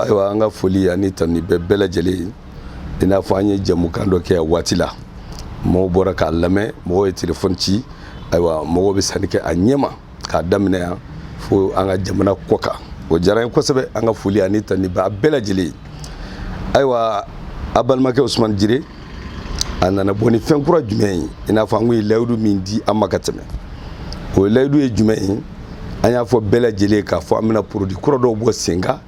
ayiwa an ka foli ani tanuni bɛ bɛɛ lajɛlen ye i n'a fɔ an ye jɛmukan dɔ kɛ waati la mɔgɔw bɔra k'a lamɛn mɔgɔw ye telefɔni ci ayiwa mɔgɔw bɛ sanni kɛ a ɲɛma k'a daminɛ yan fo an ka jamana kɔ kan o diyara n ye kosɛbɛ an ka foli ani tanuni b'a bɛɛ lajɛlen ye ayiwa a balimakɛ usumani jire a nana bɔ ni fɛn kura jumɛn ye i n'a fɔ an kun ye layidu min di a ma ka tɛmɛ o layidu ye jumɛn ye an y'a fɔ bɛɛ lajɛlen ye k'a fɔ an bɛna produit kura dɔw bɔ sen kan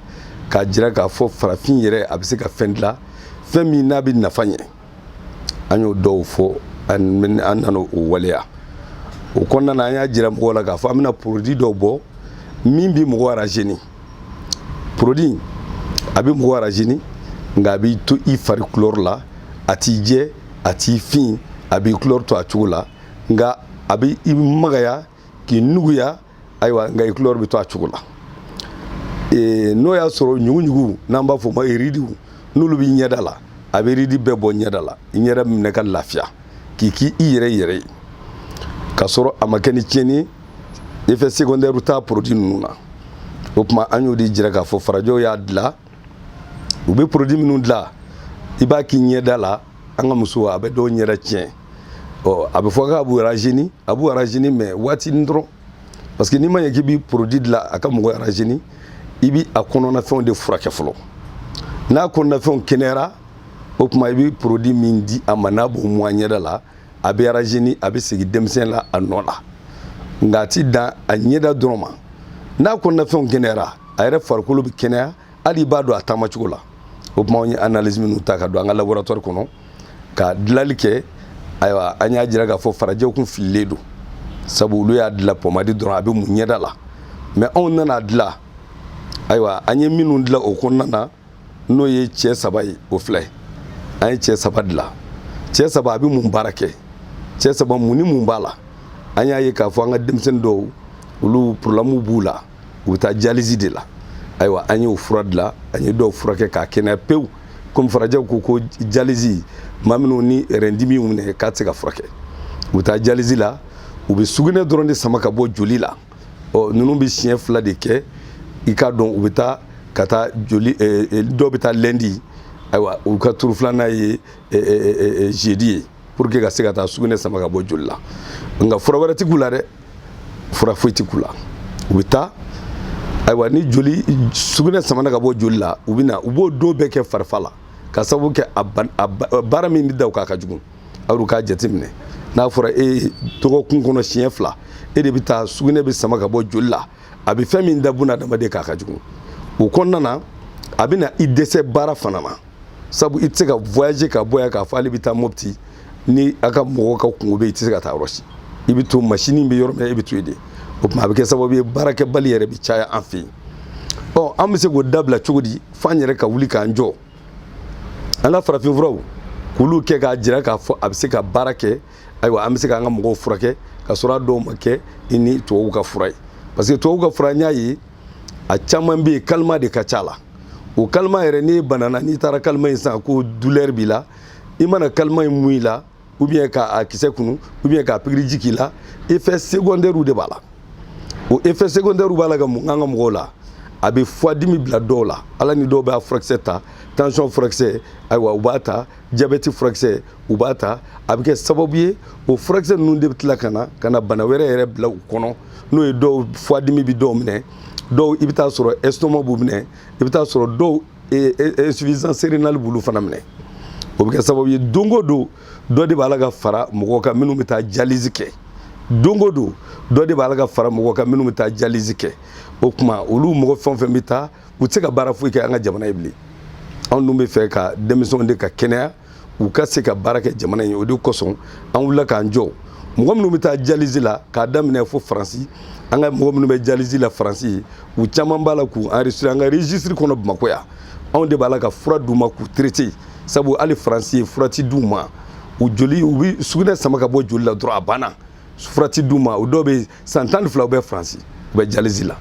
k'a jira k'a fɔ farafin yɛrɛ a bɛ se ka fɛn dilan fɛn min n'a bɛ nafa ɲɛ an y'o dɔw fɔ an nana o waleya o kɔnɔna na an y'a jira mɔgɔw la k'a fɔ an bɛna produit dɔw bɔ min bɛ mɔgɔ rajeunir produit a bɛ mɔgɔ rajeunir nka a b'i to i fari kulɔri la a t'i jɛ a t'i fin a b'i kulɔri to a cogo la nka a bɛ i magaya k'i nuguya ayiwa nka i kulɔri bɛ to a cogo la n'o y'a sɔrɔ ɲuguɲugu n'an b'a fɔ o ma iridiw n'olu b'i ɲɛda la a bɛ iridi bɛɛ bɔ ɲɛda la i ɲɛda minɛ ka lafiya k'i k'i yɛrɛ yɛrɛ ye k'a sɔrɔ a ma kɛ ni tiɲɛni ye effet secondaire t'a produit ninnu na o tuma an y'o de jira k'a fɔ farajɛw y'a dilan u bɛ produit minnu dilan i b'a k'i ɲɛda la an ka musow a bɛ dɔw ɲɛda tiɲɛ ɔ a bɛ fɔ k'a b'u rajeunir a b'u rajeunir mais waatinin dɔrɔn parce que n'i ma ɲɛ k'i bɛ produit dilan a ka mɔgɔ rajeunir i bɛ a kɔnɔnafɛnw de furakɛ fɔlɔ n'a kɔnɔnafɛnw kɛnɛyara o tuma i bɛ produit min di a ma n'a b'o mun a ɲɛda la a bɛ rajeunir a bɛ segin denmisɛn la a nɔ la nka a ti dan a ɲɛda dɔrɔn ma n'a kɔnɔnafɛnw kɛnɛyara a yɛrɛ farikolo bɛ kɛnɛya hali i b'a dɔn a taamacogo la o tuma an ye analyse minnu ta ka don an ka laboratoire kɔnɔ ka dilanli kɛ ayiwa an y'a jira k'a fɔ farajɛw kun fililen don sabu olu y'a dilan pɔmadi dɔrɔn a bɛ mun ɲɛda la mais anw nana dilan ayiwa an ye minnu dilan o kɔnɔna na n'o ye cɛ saba ye o filɛ an ye cɛ saba dilan cɛ saba a bɛ mun baara kɛ cɛ saba mun ni mun b'a la an y'a ye k'a fɔ an ka denmisɛnnin dɔw olu problème b'u la u bɛ taa dialyse de la ayiwa an y'o fura dilan an ye dɔw furakɛ k'a kɛnɛya pewu komi farajɛw ko ko dialyse maa minnu ni rein dimi y'u minɛ k'a tɛ se ka furakɛ u bɛ taa dialyse la u bɛ sugunɛ dɔrɔn de sama ka bɔ joli la ɔ ninnu bɛ siɲɛ fila de kɛ i k'a dɔn u bɛ taa ka taa joli dɔw bɛ taa lundi ayiwa u ka tour filanan ye jeudi ye pour que ka se ka taa sugunɛ sama ka bɔ joli la nka fura wɛrɛ tɛ k'u la dɛ fura foyi tɛ k'u la u bɛ taa ayiwa ni joli sugunɛ samana ka bɔ joli la u bɛ na u b'o don bɛɛ kɛ farifa la ka sababu kɛ a baara min bɛ da u kan a ka jugu aw k'a jateminɛ n'a fɔra e ye dɔgɔkun kɔnɔ siɲɛ fila e de bɛ taa sugunɛ bɛ sama ka bɔ joli la a bɛ fɛn min da buna adamaden kan a ka jugu o kɔnɔna na a bɛ na i dɛsɛ baara fana na sabu i tɛ se ka voyager ka bɔ yan k'a fɔ ale bɛ taa mopti ni a ka mɔgɔw ka kungo bɛ yen i tɛ se ka taa yɔrɔ si i bɛ to masini bɛ yɔrɔ min na e bɛ to yen de o tuma a bɛ kɛ sababu ye baarakɛbali yɛrɛ bɛ caya an fɛ yen ɔ an bɛ se k'o dabila cogo di f'an yɛrɛ ka wuli k'an jɔ an ka farafinfuraw k'olu kɛ k'a jira k'a fɔ a bɛ se ka baara kɛ ayiwa an bɛ se k'an ka mɔgɔw furakɛ ka sɔrɔ a dɔw ma kɛ ni tubabuw ka fura ye parce que tubabuw ka fura n y'a ye a caman bɛ yen kalima de ka ca a la o kalima yɛrɛ n'i banana n'i taara kalima in san ko douleur b'i la i mana kalima in mun i la ou bien ka a kisɛ kunu ou bien ka pikiriji k'i la effet secondaire de b'a la o effet secondaire b'a la ka mun an ka mɔgɔw la a bɛ fwadimi bila dɔw la ala ni dɔw bɛ a furakisɛ ta tension furakisɛ ayiwa u b'a ta jabɛti furakisɛ u b'a ta a bɛ kɛ sababu ye o furakisɛ ninnu de bɛ tila ka na ka na bana wɛrɛ yɛrɛ bila u kɔnɔ n'o ye dɔw fwadimi bɛ dɔw minɛ dɔw i bɛ taa sɔrɔ estomac b'u minɛ i bɛ taa sɔrɔ dɔw insuffisance rénale b'olu fana minɛ o bɛ kɛ sababu ye don o don dɔ de b'a la ka fara mɔgɔw kan minnu bɛ taa dialyse kɛ don o don dɔ de b'a la ka fara mɔgɔw kan minnu bɛ taa dialyse kɛ o tuma olu mɔgɔ fɛn o fɛn bɛ taa u tɛ se ka baara foyi kɛ an ka jamana ye bilen anw dun b'a fɛ ka denmisɛnw de ka kɛnɛya u ka se ka baara kɛ jamana in ye o de kosɔn an wulila k'an jɔ mɔgɔ minnu bɛ taa dialyse la k'a daminɛ fo faransi an ka mɔgɔ minnu bɛ dialyse la faransi u caman b'a la k'u enregistrer an ka registre kɔnɔ bamakɔ yan anw de b'a la ka fura d'u ma k'u traiter sabu hali faransi yen fura ti d'u ma u joli u bɛ sugunɛ sama ka bɔ joli la dɔrɔn a banna fura ti d'u ma o dɔw bɛ san tan ni fila u bɛ faransi u bɛ dialyse la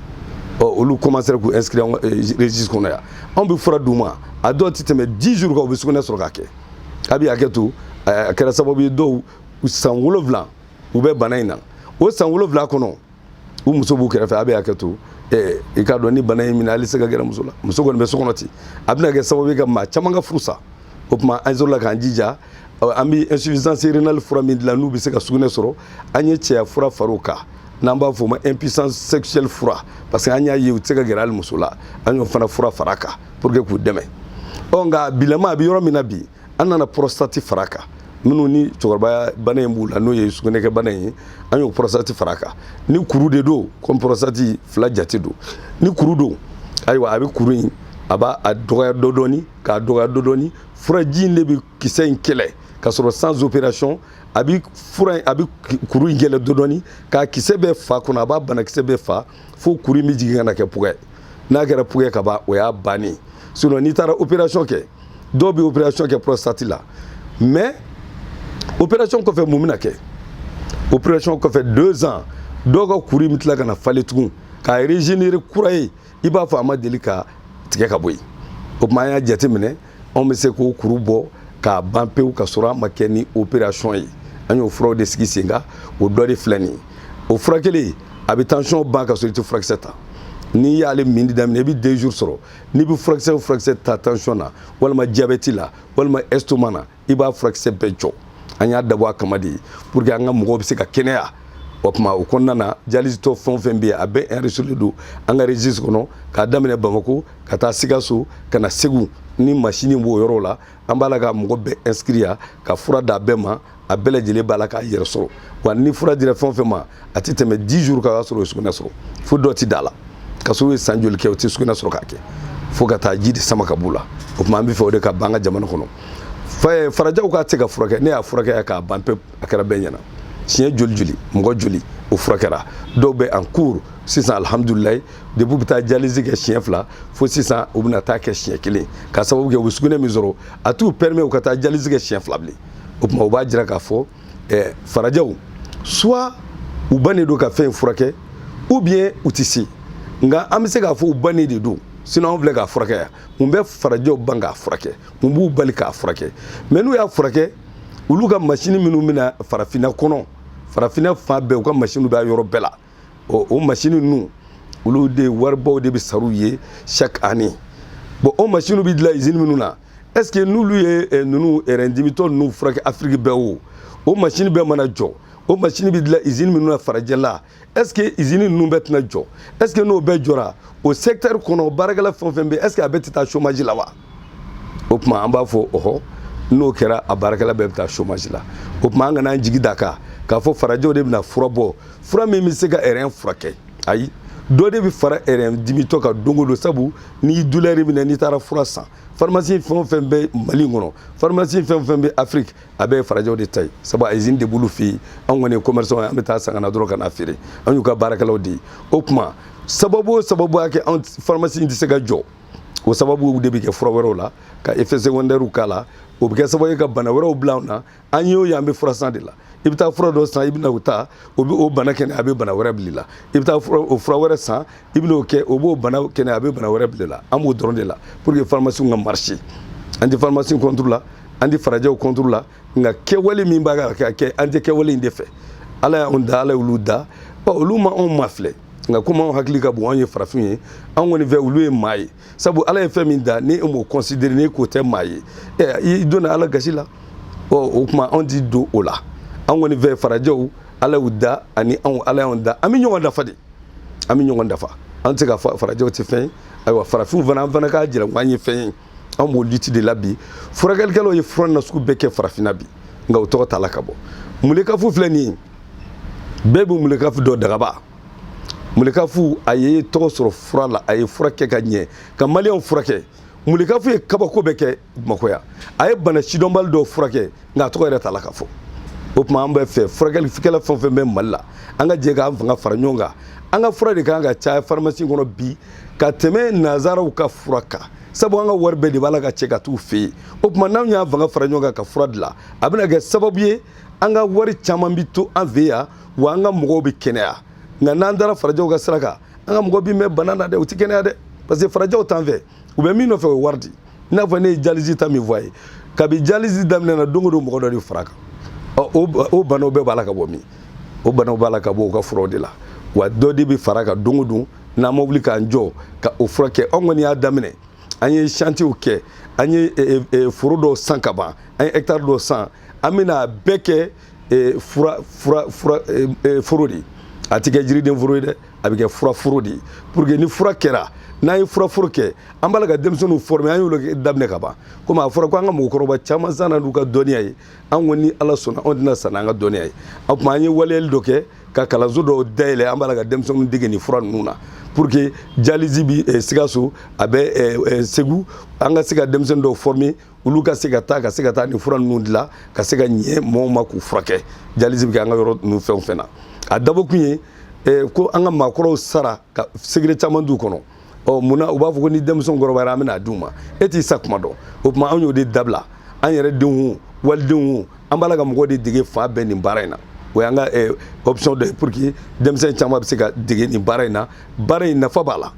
ɔ olu kɔmansera k'u inscrire an ka registre kɔnɔ yan anw bɛ fura d'u ma a dɔw tɛ tɛmɛ 10 jours kan u bɛ sugunɛ sɔrɔ k'a kɛ a bɛ hakɛ to a kɛra sababu ye dɔw san wolonwula u bɛ bana in na o san wolonwula kɔnɔ u muso b'u kɛrɛfɛ a bɛ hakɛ to Eh, i k'a dɔn ni bana in minɛ hali se ka gɛrɛ muso la muso kɔni bɛ so kɔnɔ ten a bɛna kɛ sababu ye ka maa caman ka furu sa o tuma an sɔrɔla k'an jija an bɛ insuffisance rénale fura min dilan n'u bɛ se ka sugunɛ sɔrɔ an ye cɛya fura far'o kan n'an b'a fɔ o ma impuissance sexuelle fura parce que an y'a ye u tɛ se ka gɛrɛ hali muso la an y'o fana fura far'a kan pour que k'u dɛmɛ ɔ nka bilama a bɛ yɔrɔ min na bi an nana prostate far'a kan minnu ni cɛkɔrɔbaya bana in b'u la n'o ye sugunɛkɛ bana in ye an y'o prostate far'a kan ni kuru de don comme prostate fila jate don ni kuru don ayiwa a bɛ kuru in a b'a a dɔgɔya dɔɔni dɔɔni k'a dɔgɔya dɔɔni dɔɔni furaji in de bɛ kisɛ in kɛlɛ ka sɔrɔ sans opération a bi fura a bi kuru in kɛlɛ dɔɔni k'a kisɛ bɛɛ fa kɔnɔ a b'a banakisɛ bɛɛ fa fo kuru in bɛ jigin ka na kɛ pugɛ n'a kɛra pugɛ ka ban o y'a bannen sinon n'i taara opération kɛ dɔw bɛ opération kɛ prostate la mais opération kɔfɛ mun bɛna kɛ opération kɔfɛ deux ans dɔw ka kuru in bɛ tila ka na falen tugun k'a régénérer kura ye i b'a fɔ a ma deli ka tigɛ ka bɔ yen o tuma an y'a jateminɛ anw bɛ se k'o kuru bɔ k'a ban pewu ka sɔrɔ a ma kɛ ni opération ye an y'o furaw de sigi sen kan o dɔ de filɛ nin ye o furakɛli a bɛ tansiyɔn ban ka sɔrɔ i tɛ furakisɛ ta n'i y'ale minni daminɛ i bɛ deux jours sɔrɔ n'i bɛ furakisɛ o furakisɛ ta tansiyɔn na walima diyabɛti la walima estomac na i b'a furakisɛ bɛɛ jɔ an y'a dabɔ a kama de pour que an ka mɔgɔw bɛ se ka kɛnɛya o tuma o kɔnɔna na dialysetɔ fɛn o fɛn bɛ yen a bɛɛ enregistré don an ka registre kɔnɔ k'a daminɛ Bamako ka taa Sikaso ka na Segu ni masini b'o yɔrɔ la an b'a la ka mɔgɔ bɛɛ inscrit yan ka fura d'a bɛɛ ma a bɛɛ lajɛlen b'a la k'a yɛrɛ sɔrɔ wa ni fura dira fɛn o fɛn ma a tɛ tɛmɛ 10 jours kan o y'a sɔrɔ o ye sugunɛ sɔrɔ fo dɔ tɛ d'a la ka sɔrɔ u ye san joli kɛ u tɛ sugunɛ sɔrɔ k'a kɛ fo ka taa ji de sama ka b'u la o tuma an b'a fɛ o de ka ban an ka jamana kɔnɔ eh, farajɛw k'a tɛ se ka furakɛ ne y'a furakɛ k'a ban pewu a kɛra bɛɛ ɲɛna siɲɛ joli joli mɔgɔ joli o furakɛra dɔw bɛ en cours sisan alihamudulilayi depuis u bɛ taa dialyse kɛ siɲɛ fila fo sisan u bɛna taa kɛ siɲɛ kelen ka sababu kɛ u bɛ sugunɛ min sɔrɔ a t'u permet u ka taa dialyse kɛ siɲɛ fila bilen o tuma o b'a jira k'a fɔ ɛɛ farajɛw soit u bannen don ka fɛn in furakɛ ou bien u tɛ se nka an bɛ se k'a fɔ u bannen de don sinon anw filɛ k'a furakɛ yan mun bɛ farajɛw ban k'a furakɛ mun b'u bali k'a furakɛ mais n'u y'a furakɛ olu ka masini minnu bɛ na farafinna kɔnɔ farafinna fan bɛɛ u ka masiniw bɛ a yɔrɔ bɛɛ la ɔ o masini ninnu olu de waribaw de bɛ sara u ye chaque année bon o masiniw bɛ dilan izini minnu na est ce que n'olu ye eh, ninnu rein dimitɔ eh, ninnu furakɛ afiriki bɛɛ o o masini bɛɛ mana jɔ o masini bɛ dilan izini minnu na farajɛ la est ce que izini ninnu bɛɛ tɛna jɔ est ce que n'o bɛɛ jɔra o secteur kɔnɔ baarakɛla fɛn o fɛn bɛ est ce que a bɛɛ tɛ taa chômage la wa o tuma an b'a fɔ ɔhɔ n'o kɛra a baarakɛla bɛɛ bɛ taa chômage la o tuma an kana an jigi d'a kan k'a fɔ farajɛw de bɛna fura bɔ fura min bɛ se ka rein furakɛ ayi dɔ de bɛ fara rein dimitɔ kan don o don sabu n'i ye douleur minɛ n'i taara fura san pharmacie fɛn o fɛn bɛ Mali kɔnɔ pharmacie fɛn o fɛn bɛ afiriki a bɛɛ ye farajɛw de ta ye sabu a usine de b'olu fɛ yen an kɔni ye commerçant ye an bɛ taa san ka na dɔrɔn ka na feere an y'u ka baarakɛlaw de ye o tuma sababu o sababu y'a kɛ an pharmacie in tɛ se ka jɔ o sababu de bɛ kɛ fura wɛrɛw la ka effet secondaires k'a la o bɛ kɛ sababu ye ka bana wɛrɛw bila an na an ye o ye an bɛ fura san de la i bɛ taa fura dɔ san i bɛna o ta o bɛ o bana kɛnɛ a bɛ bana wɛrɛ bila i la i bɛ taa o fura wɛrɛ san i bɛna o kɛ o b'o bana kɛnɛ a bɛ bana wɛrɛ bila i la an b'o dɔrɔn de la pour que pharmacie ka marcher an tɛ pharmacie contre la an tɛ farajɛw contre la nka kɛwale min b'a ka kɛ an tɛ kɛwale in de fɛ ala y'anw da ala y'olu da ɔ olu ma anw mafilɛ nka komi anw hakili ka bon anw ye farafin ye anw kɔni fɛ olu ye maa ye sabu ala ye fɛn min da ni e m'o considérer ni k'o tɛ maa ye ɛ i donna ala gasi la ɔ o tuma anw ti don o la anw kɔni fɛ farajɛw ala y'u da ani anw ala y'anw da an bɛ ɲɔgɔn dafa de an bɛ ɲɔgɔn dafa an tɛ se ka fɔ farajɛw tɛ fɛn ye ayiwa farafinw fana an fana k'a jira ko an ye fɛn ye an b'o lutte de la bi furakɛlikɛlaw ye fura nasugu bɛɛ kɛ farafinna bi nka u tɔgɔ t'a la ka bɔ mulekafu filɛ nin ye bɛɛ bɛ mulekafu dɔn dagaba mulekafu a ye tɔgɔ sɔrɔ fura la a ye fura kɛ ka ɲɛ ka maliyɛnw furakɛ mulekafu ye kabako bɛɛ kɛ bamakɔ yan a ye bana sidɔnbali dɔw furakɛ nka a tɔgɔ yɛrɛ t'a la ka fɔ o tuma an b'a fɛ furakɛlikɛla fɛn o fɛn bɛ mali la an ka jɛ k'an fanga fara ɲɔgɔn kan an ka fura de kan ka caya pharmacie kɔnɔ bi ka tɛmɛ nanzaraw ka fura kan sabu an ka wari bɛɛ de b'a la ka cɛ ka t'u fɛ yen o tuma n'anw y'an fanga fara ɲɔgɔn kan ka fura dilan a bɛna kɛ sababu ye an ka wari caman bi to an fɛ yan wa an ka mɔgɔw bɛ kɛnɛya nka n'an taara farajɛw ka sira kan an ka mɔgɔ bi mɛn bana na dɛ u tɛ kɛnɛya dɛ parce que farajɛw t'an fɛ u bɛ min nɔfɛ o ye wari de ye i n'a fɔ ne ye dialyse ta min fɔ a ye kabi dialyse daminɛ na don o don mɔgɔ dɔ de fara a kan ɔ o banaw bɛɛ b'a la ka bɔ min o banaw b'a la ka bɔ u ka furaw de la wa dɔ de bɛ fara kan don o don n'an ma wuli k'an jɔ ka o furakɛ anw kɔni y'a daminɛ an ye chantier kɛ an ye foro dɔw san ka ban an ye hectare dɔw san an bɛna a bɛɛ kɛ eh, fura fura fura eh, eh, foro de ye a tɛ kɛ jiriden foro ye dɛ a bɛ kɛ fura foro de ye pour que ni fura kɛra n'an ye fura foro kɛ an b'a la ka denmisɛnninw former an y'olu daminɛ ka ban komi a fɔra ko an ka mɔgɔkɔrɔba caman sara n'u ka dɔnniya ye an ko ni ala sɔnna anw tɛna sa n'an ka dɔnniya ye o tuma an ye waleyali dɔ kɛ ka kalanso dɔw dayɛlɛ an b'a la ka denmisɛnninw dege nin fura ninnu na pour que dialyse bi eh, sikaso a bɛ eh, eh, segu an ka se ka denmisɛnnin dɔw former olu ka se ka taa ka se ka taa nin fura ninnu dilan ka se ka ɲɛ mɔgɔw ma k'u furakɛ dialyse bɛ kɛ an ka yɔrɔ ninnu fɛn o fɛn na a dabɔkun ye eh, ko an ka maakɔrɔw sara ka secret caman t'u kɔnɔ ɔ mun na u b'a fɔ ko ni denmisɛnw kɔrɔbayara an bɛna a d'u ma e t'i sa kuma dɔn o tuma anw y'o de dabila an yɛrɛ denw walidenw an b'a la ka mɔgɔw de dege fan bɛɛ nin baara in na o y'an ka eh, option dɔ ye pour que denmisɛn caman bɛ se ka dege nin baara in na baara in nafa b'a la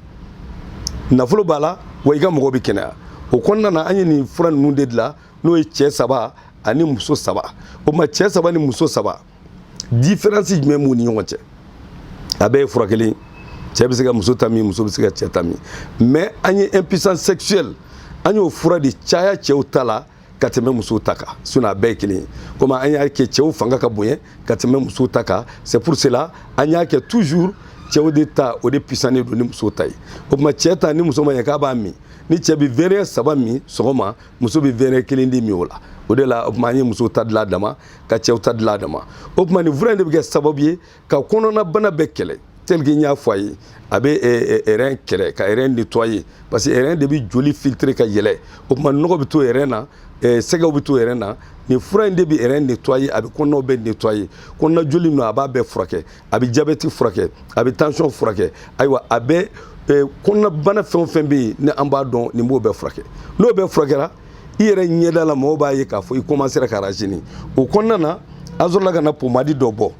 nafolo b'a la wa i ka mɔgɔw bɛ kɛnɛya o kɔnɔna na an ye nin fura ninnu de dilan n'o ye cɛ saba ani muso saba o tuma cɛ saba ni muso saba différence jumɛn b'u ni ɲɔgɔn cɛ a bɛɛ ye fura kelen cɛ bɛ se ka muso ta min muso bɛ se ka cɛ ta min mais an ye impuissance sexuelle an y'o fura de caya cɛw ta la ka tɛmɛ musow ta kan sinon a bɛɛ ye kelen ye comme an y'a kɛ cɛw fanga ka bonya ka tɛmɛ musow ta kan c'est pour cela an y'a kɛ toujours cɛw de ta o de puissannen don ni musow ta ye o tuma cɛ ta ni muso ma ɲɛ k'a b'a min ni cɛ bɛ verre saba min sɔgɔma muso bɛ verre kelen de min o la o de la o tuma an ye musow ta dilan a dama ka cɛw ta dilan a dama o tuma nin fura in de bɛ kɛ sababu ye ka kɔnɔnabana bɛɛ kɛlɛ tel que n y'a fɔ a ye a bɛ rein kɛlɛ ka rein nettoyer parce que rein de bɛ joli filtrer ka yɛlɛ o tuma nɔgɔ bɛ to rein na sɛgɛw bɛ to rein na nin fura in de bɛ rein nettoyer a bɛ kɔnɔnaw bɛɛ nettoyer kɔnɔna joli ninnu a b'a bɛɛ furakɛ a bɛ jabɛti furakɛ a bɛ tension furakɛ ayiwa a bɛ kɔnɔnabana fɛn o fɛn bɛ yen ni an b'a dɔn nin b'o bɛɛ furakɛ n'o bɛɛ furakɛra i yɛrɛ ɲɛda la mɔgɔw b'a ye k'a fɔ i commencera ka rajeunir o kɔnɔna na an sɔrɔla ka na pomadi dɔ bɔ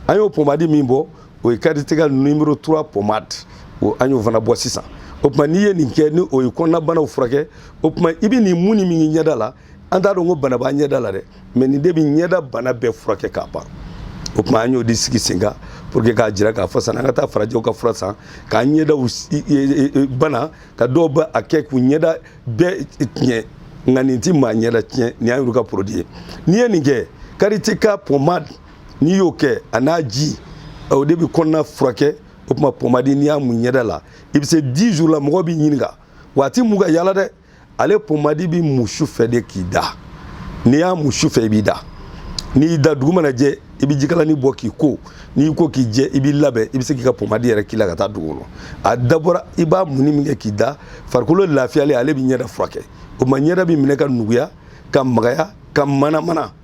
an y'o pomadi min bɔ o ye Karitiga numéro 3 pomade o an y'o fana bɔ sisan o tuma n'i ye nin kɛ ni o ye kɔnɔnabanaw furakɛ o tuma i bɛ nin mun ni min ɲɛda la an t'a dɔn ko bana b'a ɲɛda la dɛ mais nin de bɛ ɲɛda bana bɛɛ furakɛ k'a ban o tuma an y'o de sigi sen kan pour que k'a jira k'a fɔ sani an ka taa farajɛw ka fura san k'an ɲɛdaw e, e, e, bana ka dɔw bɛ a kɛ k'u ɲɛda bɛɛ tiɲɛ nka nin ti maa ɲɛda tiɲɛ nin y'an yɛrɛ ka produit ye n'i ye nin kɛ Karitiga pomade n'i y'o kɛ a n'a ji o de bɛ kɔnɔna furakɛ o tuma pɔmadi n'i y'a mun ɲɛda la i bɛ se dix jours la mɔgɔ b'i ɲininka wa a ti mun ka yala dɛ ale pɔmadi bɛ mun su fɛ de k'i da n'i y'a mun su fɛ i b'i da n'i y'i da dugu mana jɛ i bɛ jikalani bɔ k'i ko n'i y'i ko k'i jɛ i b'i labɛn i bɛ se k'i ka pɔmadi yɛrɛ k'i la ka taa dugu kɔnɔ a dabɔra i b'a munni min kɛ k'i da farikolo lafiyalen ale bɛ ɲɛda furakɛ o tuma ɲɛda bɛ minɛ ka nuguya ka magaya ka manamana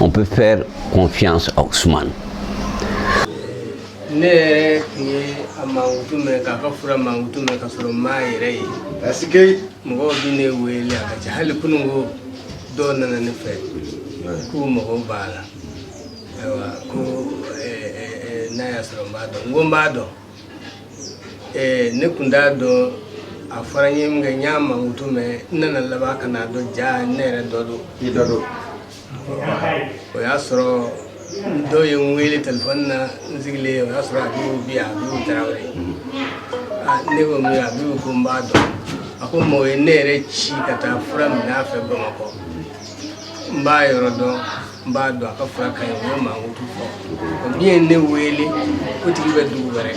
On peut faire confiance à Ousmane. ne yɛrɛ tun ye a mankutu mɛn k'a ka fura mankutu mɛn ka sɔrɔ n m'a yɛrɛ ye parce que mɔgɔw bɛ ne wele a ka ca hali kunun ko dɔw nana ne fɛ k'u mako b'a la ayiwa ko n'a y'a sɔrɔ n b'a dɔn n ko n b'a dɔn Ɛɛ ne tun t'a dɔn a fɔra n ye min kɛ n y'a mankutu mɛn n nana laban ka n'a dɔn ja ne yɛrɛ dɔgɔ don i dɔgɔ don o y'a sɔrɔ dɔw ye n wele telefɔni na n sigilen o y'a sɔrɔ Abibu bi yan Abibu Tarawele aa ne ko min Abibu ko n b'a dɔn a ko mɔɔ ye ne yɛrɛ ci ka taa fura minɛ a fɛ Bamakɔ n b'a yɔrɔ dɔn n b'a dɔn a ka fura ka ɲi o y'a mankutu fɔ min ye ne wele o tigi bɛ dugu wɛrɛ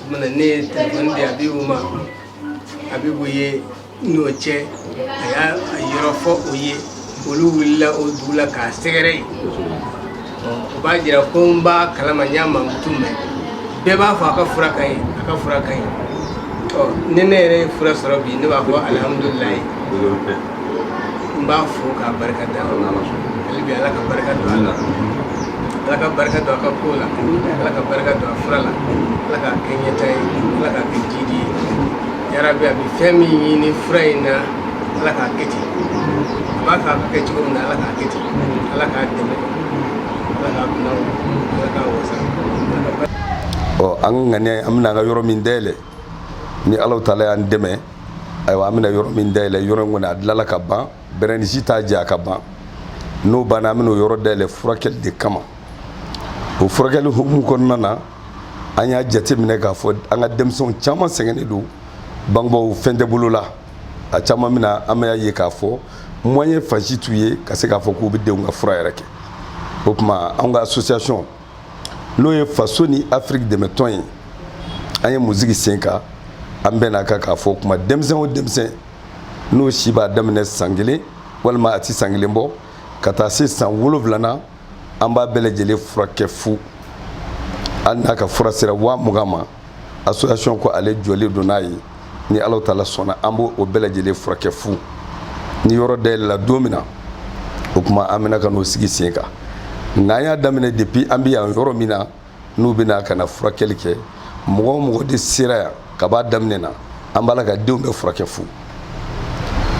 o mana ne ye telefɔni di abibu ma abibu ye n'o cɛ a y'a yɔrɔ fɔ o ye olu wulila o dugu la k'a sɛgɛrɛ yen u b'a jira ko n b'a kalama n y'a mankutu mɛn bɛɛ b'a fɔ a ka fura ka ɲi a ka fura ka ɲi ni ne yɛrɛ ye fura sɔrɔ bi ne b'a fɔ alihamudulilayi n b'a fo k'a barika da hali bi ala ka barika don a la ala ka barika don a ka ko la ala ka barika don a fura la ala k'a kɛ ɲɛta ye ala k'a kɛ jidi ye yarabi a bɛ fɛn min ɲini fura in na ala k'a kɛ ten a b'a fɛ a ka kɛ cogo min na ala k'a kɛ ten ala k'a dɛmɛ ala k'a bila ala k'a wasa ɔ an ka ŋaniya an bɛna an ka yɔrɔ min dayɛlɛ ni ala taala y'an dɛmɛ ayiwa an bɛna yɔrɔ min dayɛlɛ yɔrɔ in kɔni a dilala ka ban bɛrɛni si t'a jɛ a ka ban n'o banna an bɛna o yɔrɔ dayɛlɛ furakɛli de kama o furakɛli hukumu kɔnɔna na an y'a jateminɛ k'a fɔ an ka denmisɛnw caman sɛgɛnnen don bangebaaw fɛn tɛ bolo la a caman min na an bɛna ye k'a fɔ moyen fan si t'u ye ka se k'a fɔ k'u bɛ denw ka fura yɛrɛ kɛ o tuma an ka association n'o ye faso ni afiriki dɛmɛtɔn ye an ye min sigi sen kan an bɛnn'a kan k'a fɔ o tuma denmisɛn o denmisɛn n'o si b'a daminɛ san kelen walima a ti san kelen bɔ ka taa se san wolonwula na an b'a bɛɛ lajɛlen furakɛ fu hali n'a ka fura sera waa mugan ma association ko ale jɔlen don n'a ye ni ala taala sɔnna an b'o bɛɛ lajɛlen furakɛ fu ni yɔrɔ dayɛlɛla don min na o kuma an bɛna ka n'o sigi sen kan nka an y'a daminɛ depuis an bɛ yan yɔrɔ min na n'u bɛna ka na furakɛli kɛ mɔgɔ o mɔgɔ de sera yan ka b'a daminɛ na an b'olu ka denw bɛɛ furakɛ fu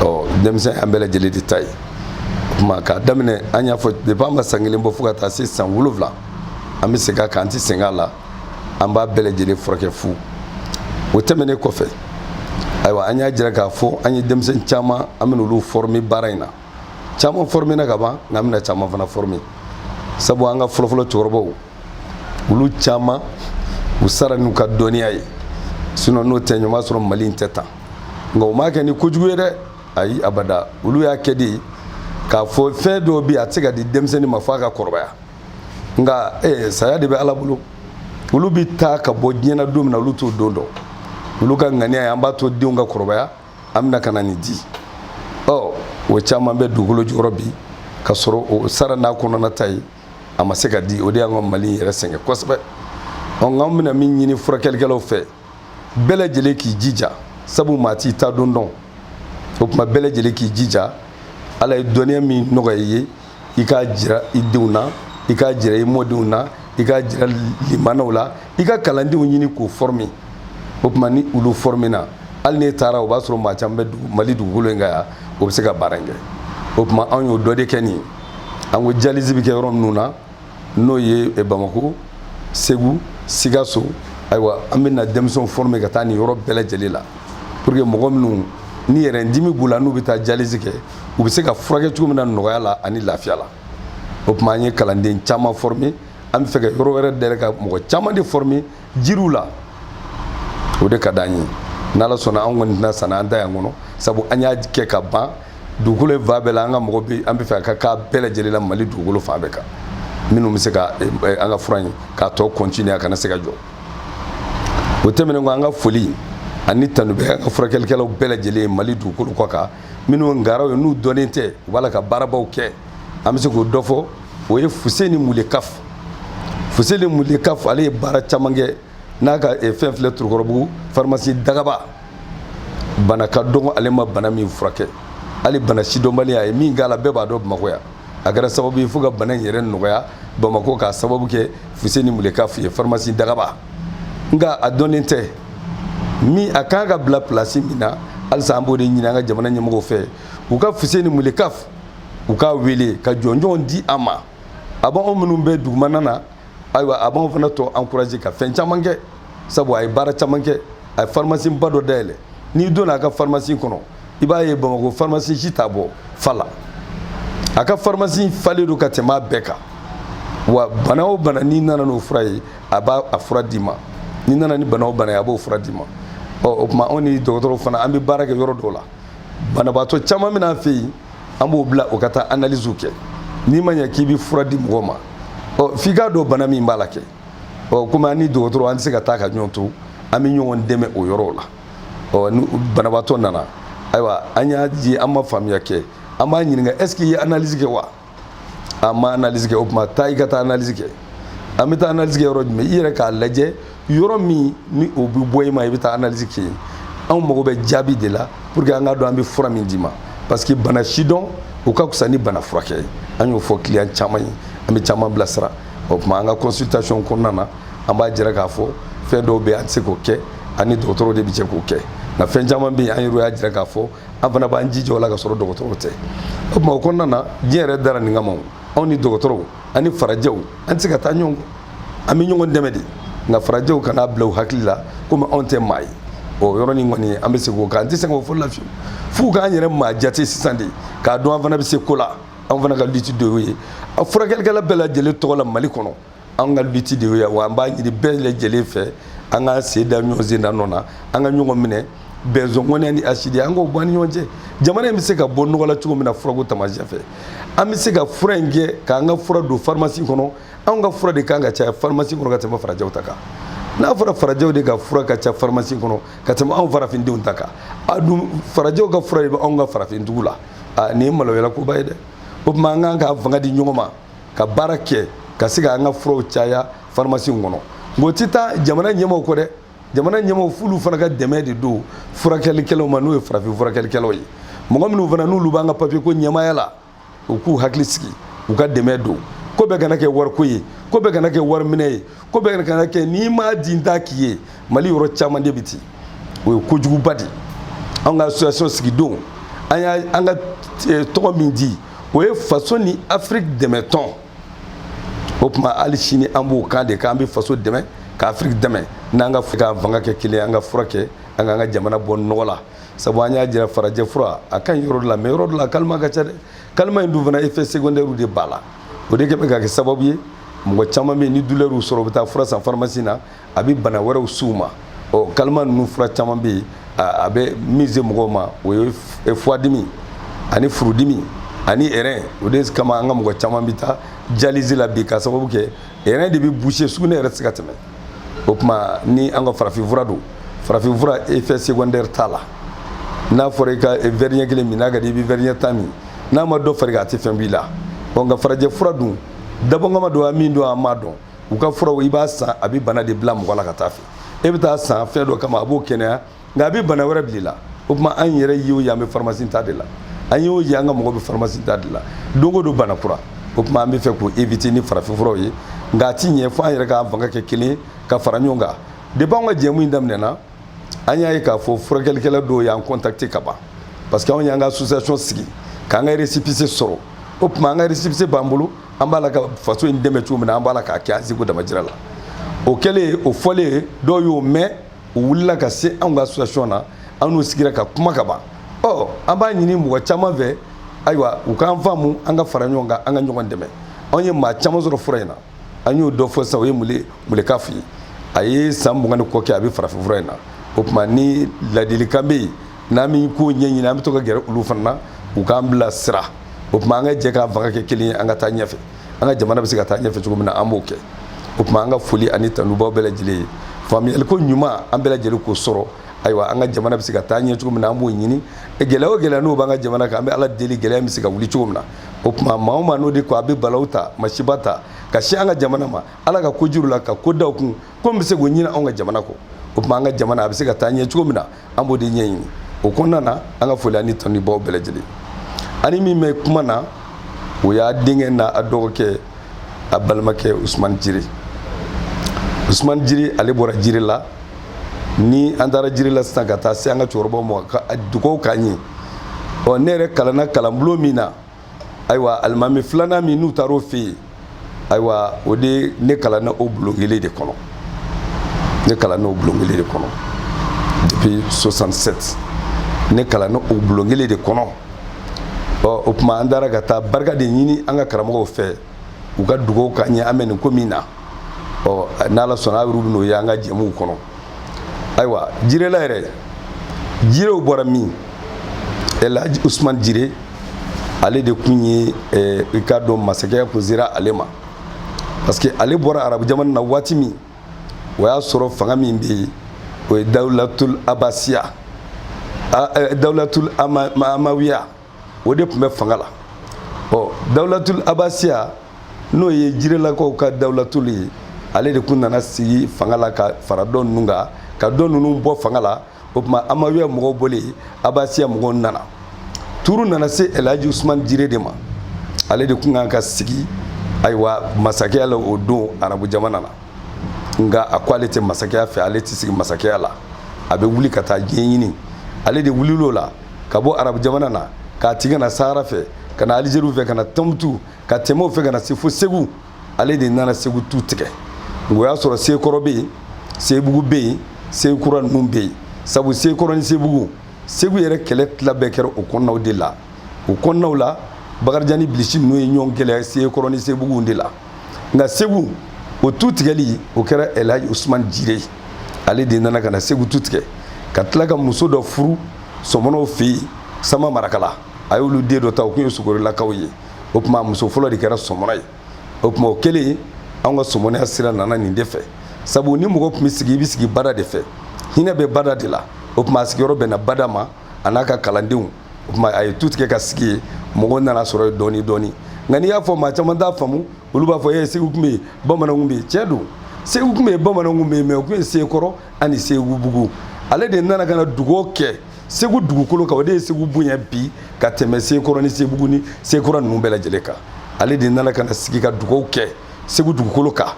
ɔ denmisɛn an bɛɛ lajɛlen de ta ye o kuma k'a daminɛ an y'a fɔ depuis a ma san kelen bɔ fo ka taa se san wolonwula an bɛ segin a kan an tɛ sɛgɛn a la an b'a bɛɛ lajɛlen furakɛ fu o tɛmɛnen kɔfɛ ayiwa an y'a jira k'a fɔ an ye denmisɛnnin caman an bɛna olu former baara in na caman former na ka ban nka an bɛna caman fana former sabu an ka fɔlɔfɔlɔ cɛkɔrɔbaw olu caman u sara n'u ka dɔnniya ye sinon n'o tɛ ɲuman sɔrɔ mali in tɛ tan nka u m'a kɛ ni kojugu ye dɛ ayi abada olu y'a kɛ de k'a fɔ fɛn dɔw bɛ yen a tɛ se ka di denmisɛnnin ma f'a ka kɔrɔbaya nka ee saya de bɛ ala bolo olu bɛ taa ka bɔ diɲɛ na don min na olu t'o don dɔn olu ka ŋaniya ye an b'a to denw ka kɔrɔbaya an bɛna ka na nin di ɔ o caman bɛ dugukolo jukɔrɔ bi ka sɔrɔ o sara n'a kɔnɔna ta ye a ma se ka di o de y'an ka mali yɛrɛ sɛgɛn kosɛbɛ ɔ nka an bɛna min ɲini furakɛlikɛlaw fɛ bɛɛ lajɛlen k'i jija sabu maa t'i ta don dɔn o tuma bɛɛ lajɛlen k'i jija ala ye dɔnniya min nɔgɔya i ye i k'a jira i denw na i k'a jira i mɔdenw na i k'a jira limanaw la i ka kalandenw ɲini k'o forme o tuma ni olu forme na hali n'e taara o b'a sɔrɔ maa caman bɛ mali dugukolo in kan yan o bɛ se ka baara in kɛ o tuma anw y'o dɔ de kɛ nin ye an ko dialyse bɛ kɛ yɔrɔ minnu na n'o ye eh, bamako segu sikaso ayiwa an bɛna denmisɛnw forme ka taa nin yɔrɔ bɛɛ lajɛlen la pour que mɔgɔ minnu ni yɛrɛ dimi b'u la n'u bɛ taa dialyse kɛ u bɛ se ka furakɛ cogo min na nɔgɔya la ani lafiya la o tuma an ye kalanden caman forme an bɛ fɛ ka yɔrɔ wɛrɛ dayɛlɛ ka mɔgɔ caman de forme jiriw la o de ka d'an ye n'ala sɔnna an kɔni tɛna sa n'an ta y'an kɔnɔ sabu an y'a kɛ ka ban dugukolo fan bɛɛ la an ka mɔgɔ bɛ an bɛ fɛ a ka k'a bɛɛ lajɛlen la mali dugukolo fan bɛɛ kan minnu bɛ se ka eh, eh, an ka fura in k'a tɔ continuer a kana se ka jɔ o tɛmɛnen kɔ an ka foli ani tanu bɛ an ka furakɛlikɛlaw bɛɛ lajɛlen mali dugukolo kɔ kan minnu ngaraw ye n'u dɔnnen tɛ u b'a la ka baarabaw kɛ an bɛ se k'o dɔ fɔ o ye fuseni mulekaf fuseni mulekaf ale ye baara caman kɛ n'a ka eh, fɛn filɛ tɔrɔkɔrɔbugu pharmacie dagaba bana ka dɔgɔ ale ma bana min furakɛ hali bana sidɔnbali a ye min k'a la bɛɛ b'a dɔn bamakɔ yan a kɛra sababu ye fo ka bana in yɛrɛ nɔgɔya bamakɔ k'a sababu kɛ fuseni mulekaf ye pharmacie dagaba nka a dɔnnen tɛ min a kan ka bila place min na halisa an b'o de ɲini an ka jamana ɲɛmɔgɔw fɛ u ka fuseni mulekaf u k'a wele ka jɔnjɔnw di a ma a b'anw minnu bɛ dugumana na ayiwa a b'anw fana tɔ encourage ka fɛn caman kɛ sabu a ye baara caman kɛ a ye pharmacie ba dɔ dayɛlɛ n'i donna a ka pharmacie kɔnɔ i b'a ye bamakɔ pharmacie si t'a bɔ fa la a ka pharmacie falen don ka tɛmɛ a bɛɛ kan wa bana o bana n'i nana n'o fura ye a b'a a fura d'i ma n'i nana ni bana o bana ye a b'o fura d'i ma ɔ o tuma anw ni dɔgɔtɔrɔw fana an bɛ baara kɛ yɔrɔ dɔw la banabaatɔ caman bɛ n'an fɛ yen an b'o bila o ka taa analyse kɛ n'i ma ɲɛ k'i bɛ fura di mɔgɔ ma ɔ f'i k'a dɔn bana min b'a la kɛ ɔ komi an ni dɔgɔtɔrɔ an tɛ se ka taa ka ɲɔgɔn to an bɛ ɲɔgɔn dɛmɛ o yɔrɔw la ɔ ni banabaatɔ nana ayiwa an y'a ye an ma faamuya kɛ an b'a ɲininka est ce que i ye analyse kɛ wa an ma analyse kɛ o tuma taa i ka taa analyse kɛ an bɛ taa analyse kɛ yɔrɔ jumɛn i yɛrɛ k'a lajɛ yɔrɔ min ni o bɛ bɔ i ma i bɛ taa analyse kɛ yen anw mago bɛ jaabi de la pour que an k'a dɔn an bɛ fura min d'i ma parce que bana sidɔn o ka fisa ni bana furakɛ ye an y'o fɔ client caman ye an bɛ caman bilasira o tuma an ka consultation kɔnɔna na an b'a jira k'a fɔ fɛn dɔw bɛ yen an tɛ se k'o kɛ an ni dɔgɔtɔrɔw de bɛ jɛ k'o kɛ nka fɛn caman bɛ yen an yɛrɛ y'a jira k'a fɔ an fana b'an jija o la ka sɔrɔ dɔgɔtɔrɔw tɛ o tuma o kɔnɔna na diɲɛ yɛrɛ dara nin kama anw ni dɔgɔtɔrɔw ani farajɛw an tɛ se ka taa ɲɔgɔn kɔ an bɛ ɲɔgɔn dɛmɛ de nka farajɛw kan'a bila u hakili la komi anw tɛ maa ye o yɔrɔnin kɔni an bɛ se k'o kan an tɛ se k'o fɔ la fiyewu f'u k'an yɛrɛ maa jate sisan de k'a dɔn an fana bɛ se ko la an fana ka lutte de y'o ye a furakɛlikɛla bɛɛ lajɛlen tɔgɔ la mali kɔnɔ anw ka lutte de y'o ye wa an b'a ɲini bɛɛ lajɛlen fɛ an ka sen da ɲɔgɔn sen da nɔ na an ka ɲɔgɔn minɛ bɛnzɔnkɔnɛ ni hasidi an k'o bɔ an ni ɲɔgɔn cɛ jamana in bɛ se ka bɔ nɔgɔ la cogo min na furako taamasiyɛn fɛ an bɛ se ka fura in kɛ k'an ka fura don pharmacie kɔnɔ anw ka fura de kan ka caya pharmacie kɔnɔ ka tɛmɛ farajɛw ta kan n'a fɔra farajɛw de ka fura ka ca pharmacie kɔnɔ ka tɛmɛ anw farafindenw ta kan a dun farajɛw ka fura de bɛ anw ka farafindugu la nin ye maloyalakoba ye dɛ o tuma an kan ka fanga di ɲɔgɔn ma ka baara kɛ ka se ka an ka furaw caya pharmacie kɔnɔ nka o tɛ taa jamana ɲɛmaaw kɔ dɛ jamana ɲɛmaaw f'olu fana ka dɛmɛ de don furakɛlikɛlaw ma n'o ye farafin furakɛlikɛlaw ye mɔgɔ minnu fana n'olu b'an ka papier ko ɲɛmaaya la u k'u hakili sigi u ka dɛmɛ don ko bɛɛ kana kɛ wariko ye ko bɛɛ kana kɛ wariminɛ ye ko bɛɛ kana kɛ n'i m'a di n t'a k'i ye mali yɔrɔ caman de bɛ ten o ye kojuguba de ye an ka association sigidon an y'a an ka eh, tɔgɔ min di o ye faso ni afiriki dɛmɛtɔn o tuma hali sini an b'o kan de k'an bɛ faso dɛmɛ ka afiriki dɛmɛ n'an ka k'an fanga kɛ kelen an ka fura kɛ an k'an ka jamana bɔ nɔgɔ la sabu an y'a jira farajɛ fura a ka ɲi yɔrɔ dɔ la mais yɔrɔ dɔ la kalima ka ca dɛ kalima in dun fana effet secondaire de b'a la o de kɛ bɛ ka kɛ sababu ye mɔgɔ caman bɛ yen ni douleur y'u sɔrɔ u bɛ taa fura san pharmacie na a bɛ bana wɛrɛw s'u ma ɔ kalima ninnu fura caman bɛ yen a bɛ min se mɔgɔw ma o ye foie dimi ani furudimi ani rein o de kama an ka mɔgɔ caman bɛ taa dialyse la bi ka sababu kɛ rein de bɛ boucher sugunɛ yɛrɛ tɛ se ka tɛmɛ o tuma ni an ka farafinfura don farafinfura effet secondaire t'a la n'a fɔra i ka verre ɲɛ kelen min n'a ka di i bɛ verre ɲɛ tan min n'a ma dɔ far'i kan a tɛ fɛn b'i la ɔ nka farajɛ fura dun dabɔkama don wa min don a ma dɔn u ka furaw i b'a san a bɛ bana de bila mɔgɔ la ka t'a fɛ e bɛ taa san fɛn dɔ kama a b'o kɛnɛya nka a bɛ bana wɛrɛ bila i la o tuma an yɛrɛ y'o ye an bɛ pharmacie ta de la an y'o ye an ka mɔgɔ bɛ pharmacie ta de la don o don bana kura o tuma an bɛ fɛ k'o éviter ni farafinfuraw ye nka a ti ɲɛ fo an yɛrɛ k'an fanga kɛ kelen ka fara ɲɔgɔn kan depuis an ka jɛmu in daminɛna an y'a ye k'a fɔ furakɛlikɛla dɔw y'an contacter ka ban parce que anw y'an ka association sigi k'an ka récépissé sɔrɔ o tuma an ka récépissé b'an bolo an b'a la ka faso in dɛmɛ cogo min na an b'a la k'a kɛ an seko damajira la o kɛlen o fɔlen dɔw y'o mɛn u wulila ka se anw ka association na an n'u sigira ka kuma ka ban ɔ an b'a ɲini mɔgɔ caman fɛ ayiwa u k'an faamu an ka fara ɲɔgɔn kan an ka ɲɔgɔn dɛmɛ anw ye maa caman sɔrɔ fura in na an y'o dɔ fɔ sisan o ye mule muleka fa ye a ye san mugan ni kɔ kɛ a bɛ farafinfura in na o tuma ni ladilikan bɛ yen n'an bɛ ko ɲɛɲini an bɛ to ka gɛrɛ olu fana na u k'an bila sira o tuma an ka jɛ k'an fanga kɛ kelen ye an ka taa ɲɛfɛ an ka jamana bɛ se ka taa ɲɛfɛ cogo min na an b'o kɛ o tuma an ka foli ani tanu b'aw bɛɛ lajɛlen ye faamuyaliko ɲuman an bɛɛ lajɛlen k'o sɔrɔ ayiwa an ka jamana bɛ se ka taa ɲɛ cogo min na an b'o ɲini gɛlɛya o gɛlɛya n'o b'an ka jamana kan an bɛ ala deli gɛlɛya bɛ se ka wuli cogo min na o tuma maa o maa n'o de ko a bɛ balawu ta masiba ta ka se an ka jamana ma ala ka kojuru la ka ko da o kun ko bɛ se k'o ɲini anw ka jamana kɔ o tuma an ka jamana a bɛ se ka taa ɲɛ cogo min na an b'o de ɲɛɲini o kɔnɔna na an ka foli ani tanu b'aw bɛɛ lajɛlen ani min bɛ kuma na o y'a denkɛ n'a a dɔgɔkɛ a balimakɛ usumani jire usumani jire ale bɔra jirela ni an taara jirela sisan ka taa se an ka cɛkɔrɔbaw ma ka dugawu k'an ye ɔ ne yɛrɛ kalanna kalanbulon min na ayiwa alimami filanan min n'u taara o fɛ yen ayiwa o de ne kalanna o bulon kelen de kɔnɔ ne kalanna o bulon kelen de kɔnɔ depuis 67 ne kalanna o bulon kelen de kɔnɔ ɔ o tuma an taara ka taa barika de ɲini an ka karamɔgɔw fɛ u ka dugawu k'an ye an bɛ nin ko min na ɔ n'ala sɔnna aw yɛrɛ bɛn'o ye an ka jɛmuw kɔnɔ ayiwa jirela yɛrɛ jirew bɔra min elaji usman jire ale de kun ye eh, i k'a dɔn masakɛya kun sera ale ma parce que ale bɔra arabu jamana na waati min o y'a sɔrɔ fanga min bɛ yen o ye dawulatul abasiya eh, dawulatul amawiya o de tun bɛ fanga la ɔ dawulatul abasiya n'o ye jirelakaw ka dawulatul ye ale de kun nana sigi fanga la ka fara dɔ ninnu kan ka dɔ ninnu bɔ fanga la o tuma amawiya mɔgɔw bɔlen abasiya mɔgɔw nana turu nana se elhaji usumani jire de ma ale de kun kan ka sigi ayiwa masakɛya la o don arabu jamana na nka a ko ale tɛ masakɛya fɛ ale tɛ sigi masakɛya la a bɛ wuli ka taa diɲɛ ɲini ale de wulil'o la ka bɔ arabu jamana na ka tigɛ ka na sahara fɛ ka na alizeriw fɛ ka na tɔnbutu ka tɛmɛ o fɛ ka na se fo segu ale de nana segu tu tigɛ o y'a sɔrɔ sekɔrɔ bɛ yen sebugu bɛ yen sekura ninnu bɛ yen sabu sekɔrɔ ni sebugu segu yɛrɛ kɛlɛ tila bɛɛ kɛra o kɔnɔnaw de la o kɔnɔnaw la bakarijan ni bilisi ninnu ye ɲɔgɔn gɛlɛya sekɔrɔ ni sebuguw de la nka segu o tu tigɛli o kɛra elhaji usman jire ale de nana ka na segu tu tigɛ ka tila ka muso dɔ furu sɔmɔnɔw fɛ yen sama marakala a y'olu den dɔ ta o kun ye sogorilakaw ye o tuma muso fɔlɔ de kɛra sɔmɔnɔ ye o tuma o kɛlen anw ka sɔmɔnɔya sira nana nin de fɛ sabu ni mɔgɔ tun bɛ sigi i bɛ sigi bada de fɛ hinɛ bɛ bada de la o tuma a sigiyɔrɔ bɛnna bada ma a n'a ka kalandenw o tuma a ye tu tigɛ ka sigi yen mɔgɔw nana sɔrɔ yen dɔɔni dɔɔni nka n'i y'a fɔ maa caman t'a faamu olu b'a fɔ ee segu tun bɛ yen bamananw tun bɛ yen tiɲɛ don segu tun bɛ yen bamananw tun bɛ yen mais o tun ye sekɔrɔ ani segubugu ale de nana ka na dugaw kɛ segu dugukolo kan o de ye segu bonya bi ka tɛmɛ sekɔrɔ ni sebugu ni sekura ninnu bɛɛ lajɛlen kan ale de nana ka na sigi ka dugaw kɛ segu dugukolo kan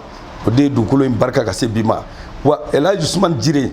o de ye dugukolo in barika ka se bi ma wa elhaji usumani jire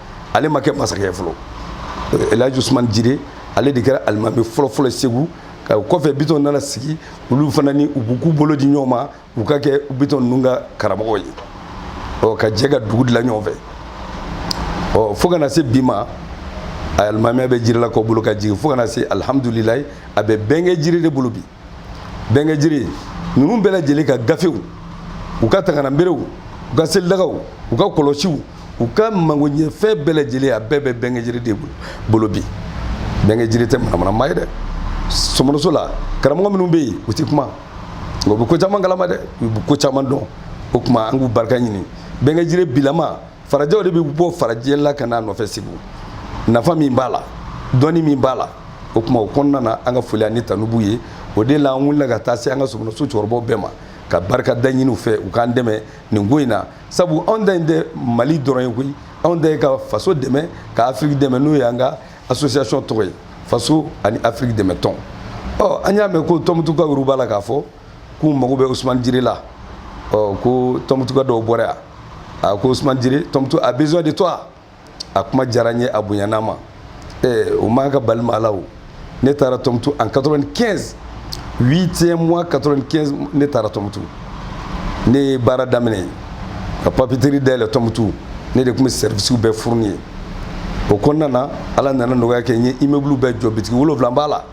ale ma kɛ masakɛ fɔlɔ elhaji usumani jire ale de kɛra alimami fɔlɔfɔlɔ segu ka o kɔfɛ bitɔn nana sigi olu fana ni u b'u k'u bolo di ɲɔgɔn ma u ka kɛ bitɔn ninnu ka karamɔgɔ ye ɔ ka jɛ ka dugu dilan ɲɔgɔn fɛ ɔ fo ka na se bi ma alimamiya bɛ jirilakaw bolo ka jigin fo ka na se alihamudulilayi a bɛ bɛnkɛ jire de bolo bi bɛnkɛ jire ninnu bɛɛ lajɛlen ka gafew u ka tagamaberew u ka selidagaw u ka kɔlɔsiw u ka magoɲɛfɛn bɛɛ lajɛlen a bɛɛ bɛ bɛnkɛ jire de bolo bi bɛnkɛ jire tɛ manamanama ye dɛ sɔmɔnɔso la karamɔgɔ minnu bɛ yen u tɛ kuma nka u bɛ ko caman kalama dɛ u bɛ ko caman dɔn o tuma an k'u barika ɲini bɛnkɛ jire bilama farajɛw de bɛ bɔ farajɛla ka n'a nɔfɛ segu nafa min b'a la dɔnni min b'a la o tuma o kɔnɔna na an ka foli ani tanu b'u ye o de la an wulila ka taa se an ka sɔmɔnɔso cɛkɔrɔbaw bɛɛ ma ka barika da ɲini u fɛ u k'an dɛmɛ nin ko in na sabu anw ta in tɛ mali dɔrɔn ye koyi anw ta ye ka faso dɛmɛ ka afiriki dɛmɛ n'o ye an ka association tɔgɔ ye faso ani afiriki dɛmɛ tɔn ɔ an y'a mɛn ko tɔmutukaw yɛrɛ b'a la k'a fɔ k'u mago bɛ usumani jire la ɔ ko tɔmutuka dɔw bɔra yan a ko usumani jire tɔmutu a besoin de toi a kuma diyara n ye a bonyana n ma eh, o man ka bali maa la o ne taara tɔmutu en 95 8e mois 95 ne taara tɔmutu ne ye baara daminɛ ka papeterie dayɛlɛ tɔmutu ne de tun bɛ sɛrivisiw bɛɛ fourni yen o kɔnɔna na ala nana nɔgɔya kɛ n ye immeuble bɛɛ jɔ bitigi wolonfila b'a la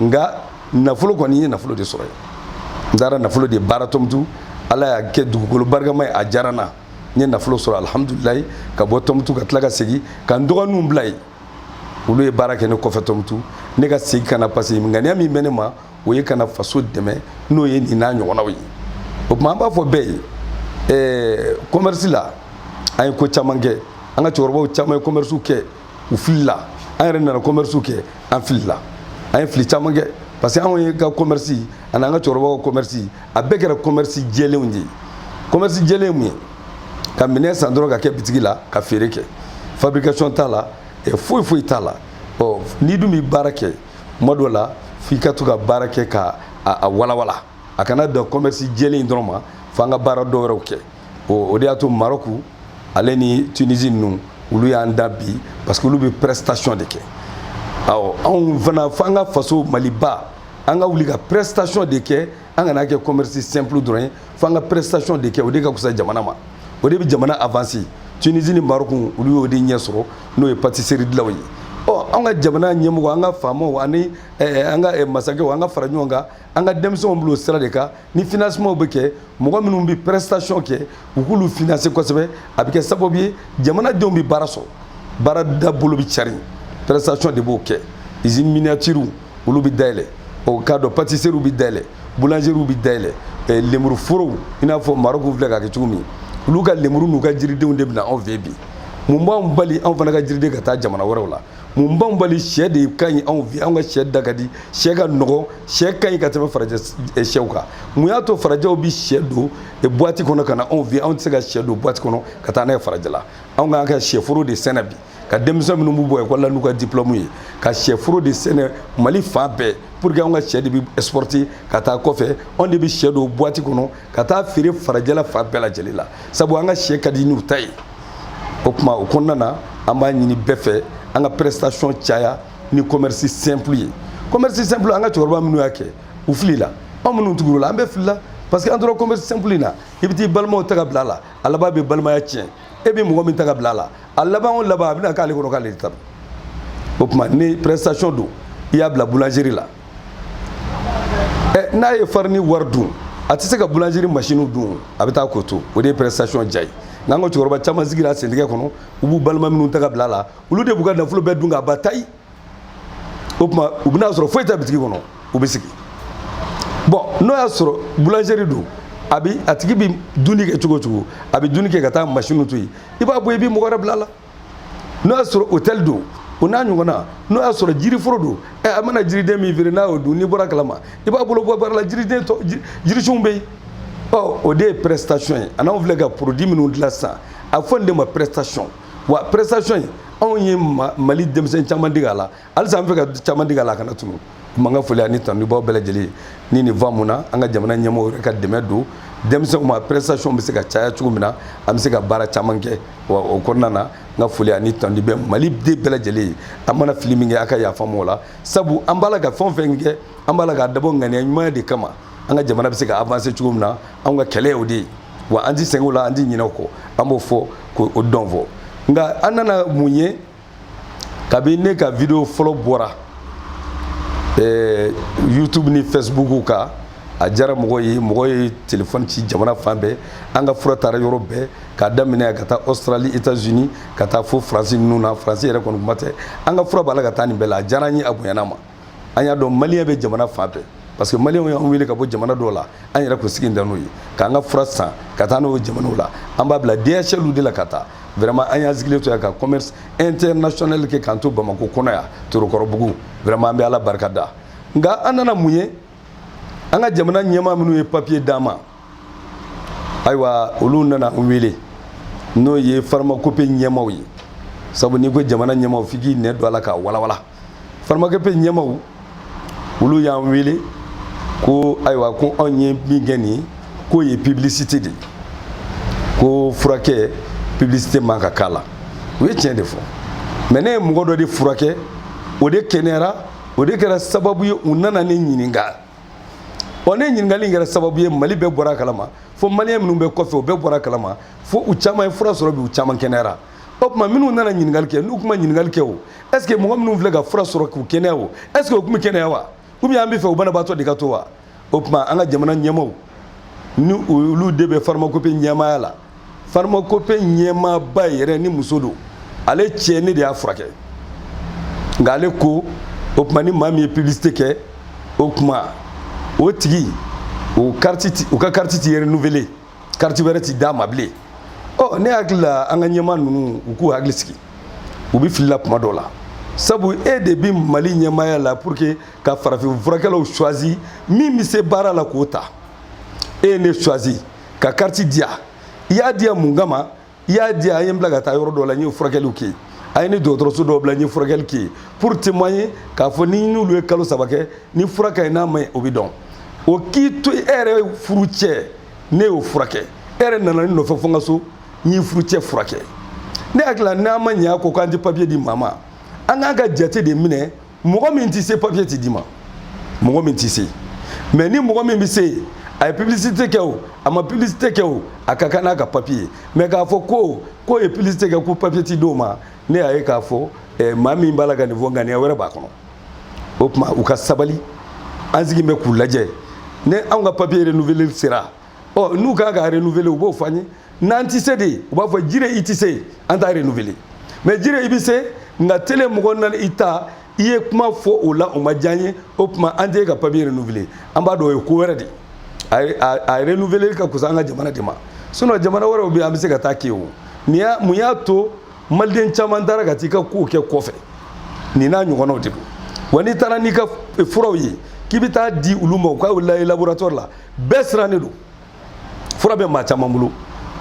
nka nafolo kɔni n ye nafolo de sɔrɔ yen n taara nafolo de baara tɔmutu ala y'a kɛ dugukolo barikama ye a diyara n na n ye nafolo sɔrɔ alihamudulilayi ka bɔ tɔmutu ka tila ka segin ka n dɔgɔninw bila yen olu ye baara kɛ ne kɔfɛ tɔmutu ne ka segin ka na parce que ŋaniya min bɛ ne ma o ye ka na faso dɛmɛ n'o ye nin n'a ɲɔgɔnnaw ye o tuma an b'a fɔ bɛɛ ye ɛɛ commerce la an ye ko caman kɛ an ka cɛkɔrɔbaw caman ye commerce kɛ u filila an yɛrɛ nana commerce kɛ an filila an ye fili caman kɛ parce que anw yɛrɛ ka commerce ani an ka cɛkɔrɔbaw ka commerce a bɛɛ kɛra commerce jɛlenw de ye commerce jɛlen ye mun ye ka minɛn san dɔrɔn ka kɛ bitigi la ka feere kɛ fabrication t'a la foyi foyi t'a la ɔ n'i dun bɛ baara kɛ tuma dɔ la f'i ka to ka baara kɛ ka a walawala a kana dan commerce jɛlen dɔrɔn ma f'an ka baara dɔ wɛrɛw kɛ o de y'a to Maroc ale ni Tunisie ninnu olu y'an dan bi parce que olu bɛ prestation de kɛ awɔ anw fana fo an ka faso maliba an ka wuli ka prestation de kɛ an kana kɛ commerce simple dɔrɔn ye fo an ka prestation de kɛ o de ka fisa jamana ma o de bɛ jamana avancer Tunisie ni Maroc olu y'o de ɲɛ sɔrɔ n'o ye pâtisserie dilanw ye ɔ an ka jamana ɲɛmɔgɔ an ka faamaw ani an ka masakɛw an ka fara ɲɔgɔn kan an ka denmisɛnw bila o sira de kan ni financement bɛ kɛ mɔgɔ minnu bɛ prestation kɛ u k'olu financer kosɛbɛ a bɛ kɛ sababu ye jamanadenw bɛ baara sɔrɔ baara dabolo bɛ cari prestation de b'o kɛ usine miniature olu bɛ dayɛlɛ o k'a dɔn pâtisserie bɛ dayɛlɛ boulangerie bɛ dayɛlɛ eh, lemuru forow i n'a fɔ Maroc filɛ k'a kɛ cogo min olu ka lemuru n'u ka jiridenw de bɛ na anw fɛ bi mun b'anw bali anw fana ka jiriden ka taa jamana wɛrɛw la mun b'anw bali sɛ de ka ɲi anw fɛ anw ka sɛ da ka di sɛ ka nɔgɔn sɛ ka ɲi ka tɛmɛ farajɛ sɛw kan mun y'a to farajɛw bi sɛ don boîte kɔnɔ ka na anw fɛ anw tɛ se ka sɛ don boîte kɔnɔ ka taa n'a ye farajɛla anw k'an ka sɛforo de sɛnɛ bi ka denmisɛn minnu b'u bɔ ekɔli la n'u ka diplôme ye ka sɛforo de sɛnɛ mali fan bɛɛ pour que anw ka sɛ de bi exporter ka taa kɔfɛ anw de bi sɛ don boîte kɔnɔ ka taa feere farajɛla fan bɛɛ lajɛlen la sabu an ka sɛ ka di n'u ta ye o tuma o kɔnɔna na an b'a ɲini bɛɛ fɛ an ka prestation caya ni commerce simple ye commerce simple an ka cɛkɔrɔba minnu y'a kɛ u filila anw minnu tugura u la an bɛɛ filila parce que an tora commerce simple in na i bɛ t'i balimaw ta ka bila a la a laban bɛ balimaya tiɲɛ e bɛ mɔgɔ min ta ka bila a la a laban o laban a bɛna k'ale kɔnɔ k'ale de ta don o tuma ni prestation don i y'a bila boulangerie la eh, n'a ye farine wari dun a tɛ se ka boulangerie machine dun a bɛ taa k'o to o de ye prestation diya ye nka an ka cɛkɔrɔba caman sigira sentigɛ kɔnɔ u b'u balima minnu ta ka bila a la olu de b'u ka nafolo bɛɛ dun k'a ban tayi o tuma u bɛna sɔrɔ foyi tɛ bitigi kɔnɔ u bɛ sigi bon n'o y'a sɔrɔ boulangerie don a bi a tigi bi dumuni kɛ cogo o cogo a bi dumuni kɛ ka taa machine to yen i b'a bɔ i bi mɔgɔ wɛrɛ bila a la n'o y'a sɔrɔ hôtel don o n'a ɲɔgɔnna n'o y'a sɔrɔ jiriforo don ɛ a mana jiriden min feere n'a y'o dun n'i bɔra a kalama i b'a bolo bɔ baara la jiriden tɔ jirisunw bɛ yen ɔ o de ye prestation ye an'anw filɛ ka produit minnu dilan sisan a bɛ fɔ nin de ma prestation wa prestation in anw ye mali denmisɛn caman dege a la halisa an b'a fɛ ka caman dege a la a kana tunu kuma n ka foli ani tanuni b'aw bɛɛ lajɛlen ni nin va mun na an ka jamana ɲɛmɔgɔw yɛrɛ ka dɛmɛ don denmisɛnw ma prestation bɛ se ka caya cogo min na an bɛ se ka baara caman kɛ wa o kɔnɔna na n ka foli ani tanuni bɛ mali den bɛɛ lajɛlen ye an mana fili min kɛ a ka yafa n m'o la sabu an b'a la ka fɛn o fɛn kɛ an b'a la k'a dabɔ ŋaniya ɲuman de kama an ka jamana bɛ se ka avancer cogo min na anw ka kɛlɛ y'o de ye wa an ti sɛgɛn o la an ti ɲinɛ o kɔ an b'o fɔ k'o dɔn fɔ nka an nana mun ye kabi ne ka video fɔlɔ bɔra eh, youtube ni facebook kan a diyara mɔgɔ ye mɔgɔ ye telefɔni ci jamana fan bɛɛ an ka fura taara yɔrɔ bɛɛ k'a daminɛ ka taa australie états unis ka taa fo faransi ninnu na faransi yɛrɛ kɔni kuma tɛ an ka fura b'a la ka taa nin bɛɛ la a diyara an ye a bonyana an ma an y'a dɔn maliyɛn bɛ jamana fan bɛɛ parce que maliyɛnw y'an wele ka bɔ jamana dɔw la an yɛrɛ kun sigi tɛ n'o ye k'an ka fura san ka taa n'o jamanaw la an b'a bila dhl de la ka taa vraiment an y'an sigilen to yan ka commerce international kɛ k'an to bamako kɔnɔ yan torokɔrɔbugu vraiment an bɛ ala barika da nka an nana mun ye an ka jamana ɲɛmaa minnu ye papiye d'an ma ayiwa olu nana an wele n'o ye farmakope ɲɛmaaw ye sabu n'i ko jamana ɲɛmaaw f'i k'i nɛn don a la k'a walawala farmakope ɲɛmaaw olu y'an wele ko ayiwa ko anw ye min kɛ nin k'o ye publicité de ye ko furakɛ publicité man kan k'a la u ye tiɲɛ de fɔ mais ne ye mɔgɔ dɔ de furakɛ o de kɛnɛyara o de kɛra sababu ye u nana ne ɲininka ɔ ne ɲininkali in kɛra sababu ye mali bɛɛ bɔra a kalama fo maliyɛn minnu bɛ kɔfɛ u bɛɛ bɔra a kalama fo u caman ye fura sɔrɔ bi u caman kɛnɛyara o tuma minnu nana ɲininkali kɛ n'u tun ma ɲininkali kɛ o est ce que mɔgɔ minnu filɛ ka fura sɔrɔ k'u kɛnɛya o est ce que o tun bɛ kɛnɛya wa ou bien an b'a fɛ u banabaatɔ de ka to wa o tuma an ka jamana ɲɛmaaw ni olu de bɛ farmakope ɲɛmaaya la farmakope ɲɛmaaba yɛrɛ ni muso don ale cɛ ne de y'a furakɛ nka ale ko o tuma ni maa min ye publicité kɛ o tuma o tigi o ka kariti ti renouveler kariti wɛrɛ ti d'a ma bilen ɔ ne hakili la an ka ɲɛmaa ninnu u k'u hakili sigi u bɛ filila kuma dɔ la sabu e de bɛ mali ɲɛmaaya la pour que ka farafin furakɛlaw choisi min bɛ se baara la k'o ta e ye ne choisi ka kariti di yan i y'a di yan mun kama i y'a di yan a ye n bila ka taa yɔrɔ dɔ la n ye furakɛliw kɛ yen a ye ni dɔgɔtɔrɔso dɔw bila n ye furakɛli kɛ yen pour témoigner k'a fɔ ni n'olu ye kalo saba kɛ ni fura ka ɲi n'a ma ɲi o bɛ dɔn o k'i to e yɛrɛ furu cɛ ne y'o furakɛ e yɛrɛ nana ne nɔfɛ fo n ka so n y'i furu cɛ furakɛ ne hakili la n'an ma ɲɛ a ko k'an tɛ papiye di maa ma an k'an ka jate de minɛ mɔgɔ min tɛ se papiye tɛ d'i ma mɔgɔ min tɛ se mais ni mɔgɔ min bɛ se a ye publicité kɛ o a ma publicité kɛ o a ka kan n'a ka papiye ye mais k'a fɔ ko k'o ye publicité kɛ ko papiye ti d'o ma ne y'a ye k'a fɔ eh, maa min b'a la ka nin fɔ ŋaniya wɛrɛ b'a kɔnɔ o tuma u ka sabali an sigi bɛ k'u lajɛ ni anw ka papiye renouveleli sera ɔ n'u kan k'a renouveler u b'o fɔ an ye n'an tɛ se de u b'a fɔ jire i tɛ se an t'a renouveler mais jire i bɛ se nka tele mɔgɔ nana i ta i ye kuma fɔ o la o ma diya n ye o tuma an t'i ka papiye renouveler an b'a dɔn o ye ko wɛrɛ de ye a renouveler ka kusa an ka jamana de ma sinon jamana wɛrɛw bɛ yen an bɛ se ka taa kɛ o nin y'a mun y'a to maliden caman taara ka t'i ka kow kɛ kɔfɛ nin n'a ɲɔgɔnnaw de don wa n'i taara n'i ka furaw ye k'i bɛ taa di olu ma u k'a lajɛ laboratoire la bɛɛ sirannen don fura bɛ maa caman bolo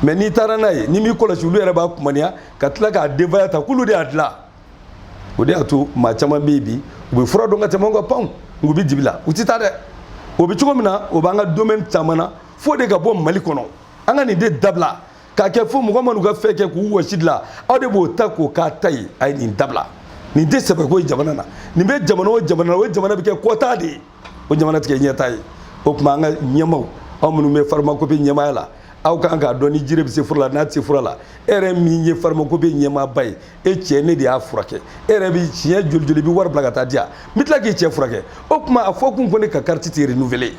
mais n'i taara n'a ye n'i m'i kɔlɔsi olu yɛrɛ b'a kumaniya ka tila k'a denbaya ta k'olu de y'a dilan o de y'a to maa caman bɛ yen bi u bɛ fura dɔn ka tɛmɛ anw kan panw nka u bɛ dibi la u tɛ taa dɛ o bɛ cogo min na o b'an ka domaine caman na f'o de ka bɔ mali kɔnɔ an ka nin de dabila k'a kɛ fo mɔgɔ minnu ka fɛn kɛ k'u wɔsi dilan aw de b'o ta k'o k'aw ta ye a ye nin dabila nin tɛ sɛbɛko ye jamana na nin bɛ jamana o jamana na o jamana bɛ kɛ kɔtaa de ye o jamana tɛ kɛ ɲɛtaa ye o tuma an ka ɲɛmaaw aw minnu bɛ farmakopi ɲɛmaaya la aw kan k'a dɔn ni jire bɛ se fura la n'a tɛ se fura la e yɛrɛ min ye farmakopi ɲɛmaaba ye e cɛ ne de y'a furakɛ e yɛrɛ bɛ siɲɛ joli joli i bɛ wari bila ka taa di yan n bɛ tila k'i cɛ furakɛ o tuma a fɔ kun ko ne ka kariti tɛ renouveler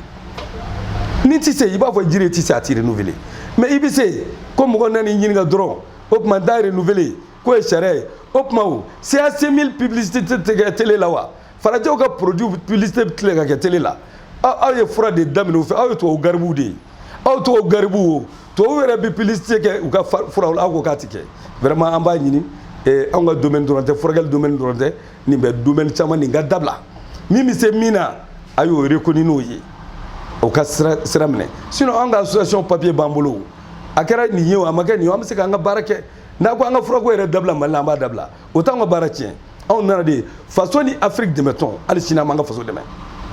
ni n tɛ se i b'a fɔ jire tɛ se a tɛ renouveler mais i bɛ se ko mɔgɔ nana i ɲininka dɔrɔn o tuma n t'a renouveler k'o ye sariya ye o tuma o CAC 1000 publicité tɛ kɛ télé la wa. farajɛw ka produit publicité bɛ tilen ka kɛ télé la aw ye fura de daminɛ u fɛ aw ye tubabu garibuw de ye aw tubabu garibuw o tubabu yɛrɛ bɛ publicité kɛ u ka furaw la aw ko k'a tɛ kɛ vraiment an b'a ɲini eh, anw ka domaine dɔrɔn tɛ furakɛli domaine dɔrɔn tɛ nin bɛ domaine caman nin ka dabila min bɛ se min na a y'o reconnu n'o ye o ka sira sira minɛ sinon an ka association papier b'an bolo a kɛra nin ye o a ma kɛ nin ye o an bɛ se k'an ka baara kɛ n'a ko an ka furako yɛrɛ dabila mali la an b'a dabila o t'anw ka baara tiɲɛ anw nana de faso ni afiriki dɛmɛtɔn hali sini an b'an ka faso dɛmɛ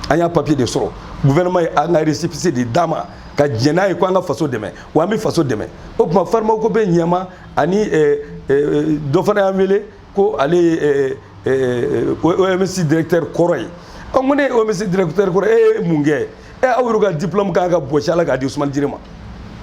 an y'a papiye de sɔrɔ guvɛrɛnɛma ye an ka resipise de d'an ma ka diɲɛ n'a ye ko an ka faso dɛmɛ wa an bɛ faso dɛmɛ o tuma farmakopi ɲɛmaa ani eh, eh, dɔ fana y'an wele ko ale ye eh, OMS directeur kɔrɔ ye an ko n'e ye OMS directeur kɔrɔ e ye mun kɛ ɛ aw yɛrɛ ka diplôme kan ka bɔsi a la k'a di usumani jire ma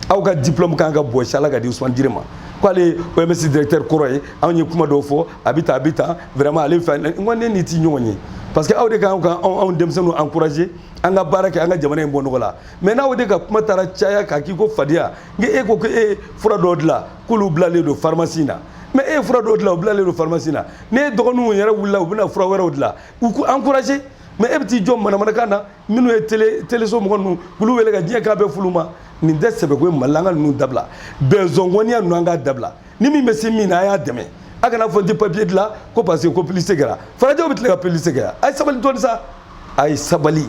aw ka diplôme kan ka bɔsi a la k'a di usumani jire ma k'ale ye oms directeur kɔrɔ ye anw ye kuma dɔw fɔ a bɛ ta a bɛ ta vraiment ale fɛ n ko ne n'i ti ɲɔgɔn ye parce que aw de kan ka anw denmisɛnninw encourager an ka baara kɛ an ka jamana in bɔ nɔgɔ la mais n'aw de ka kuma taara caya k'a k'i ko fadenya n'e ko ko e ye fura dɔw dilan k'olu bilalen don pharmacie na mais e ye fura dɔw dilan u bilalen don pharmacie na ne dɔgɔninw yɛrɛ wulila u bɛna fura wɛrɛw dilan u ko encourager mais e bɛ t'i jɔ manamanakan na minnu ye télé téléso mɔgɔ ninnu k'olu wele ka diɲɛ k'a bɛɛ f'olu ma nin tɛ sɛbɛko ye mali la an ka ninnu dabila bɛnzɔngɔniya ninnu an k'a dabila ni min bɛ se min na a y'a dɛmɛ a kana fɔ n tɛ papier dilan ko parce que ko publicité kɛra farajɛw bɛ tila ka publicité kɛ a ye sabali dɔɔni sa a ye sabali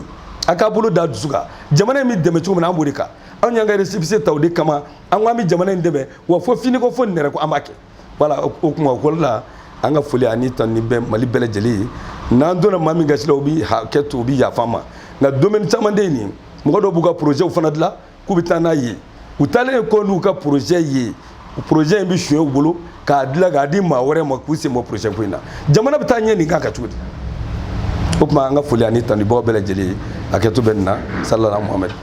a k'a bolo da dusu kan jamana in bɛ dɛmɛ cogo min na an b'o de kan anw y'an ka récépissé ta o de kama an ko an bɛ jamana in dɛmɛ wa fo finiko fo nɛrɛ ko an b'a kɛ voilà o kuma ko la an ka foli ani tanuni bɛ mali bɛɛ lajɛlen ye n'an donna maa min gasi la u bi hakɛ to u bi yafa an ma nka domaine caman de ye nin mɔgɔ dɔw b'u ka projets fana dilan k'u bɛ taa n'a ye u taalen kɔ n'u ka projet ye projet in bɛ suɲɛ u bolo k'a dilan k'a di maa wɛrɛ ma k'u sen bɔ projet ko in na jamana bɛ taa ɲɛ nin kan ka cogo di o tuma an ka foli ani tanuni b'aw bɛɛ lajɛlen ye hakɛto bɛ nin na salala muhamɛdi